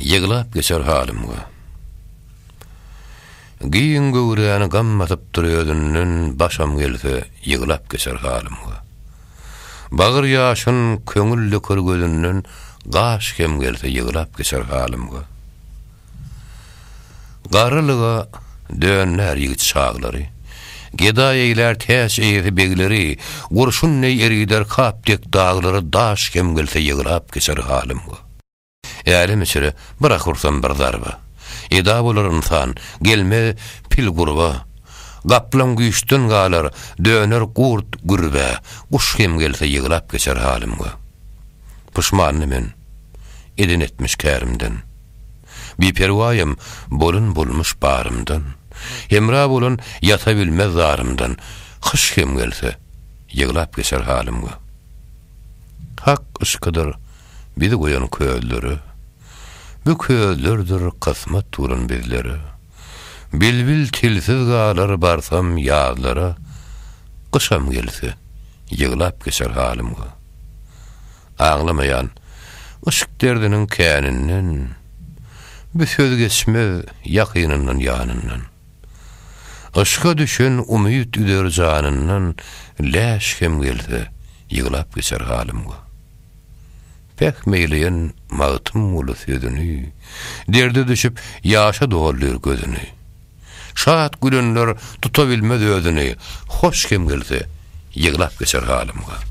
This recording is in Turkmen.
Ýyglap geçer halym gö. Giň göwräni gam basypdyr özünden Başam gelse ýyglap geçer halym gö. Bagyr ýaşyn köňül döker gözünden Gaş hem gelse ýyglap geçer halym gö. Garrylyga döndär ýigit çaglary, Gedaý eýlär täç eýesi begleri, Gurşun deý erider kap dek daglary Daş hem gelse ýyglap geçer halym gö. Älem içre, bir ahursam bir zarba. Eda bolar ynsan, gelmez pil gurba. Gaplaň güýçden galar, döner gurt gürbä. Guş hem gelse ýyglap geçer halymga. Puşmandy men, eden etmiş kärimden. Biperwaýym, bolun bolmuş barymdan. Hemra bolan ýata bilmez zarymdan. Kyş hem gelse, ýyglap geçer halymga. Hak yşkydyr bizi goýan közlere, Bu közlerdir kysmat duran bizlere. Bilbil tilsiz galar barsam ýazlara, Gyşam gelse, ýyglap geçer halymga. Aglamaýan, yşk derdiniň käninden, Bu söz geçmez ýakynyndan ýanyndan. Yşka düşen umyt üzer janyndan läş hem gelse, ýyglap geçer halym go. Pähim eýleýän Magtymguly sözüni, derde düşüp, ýaşa doldyr gözüni. Şat gülenler tutabilmez özüni, hoş hem gelse, ýyglap geçer halym go.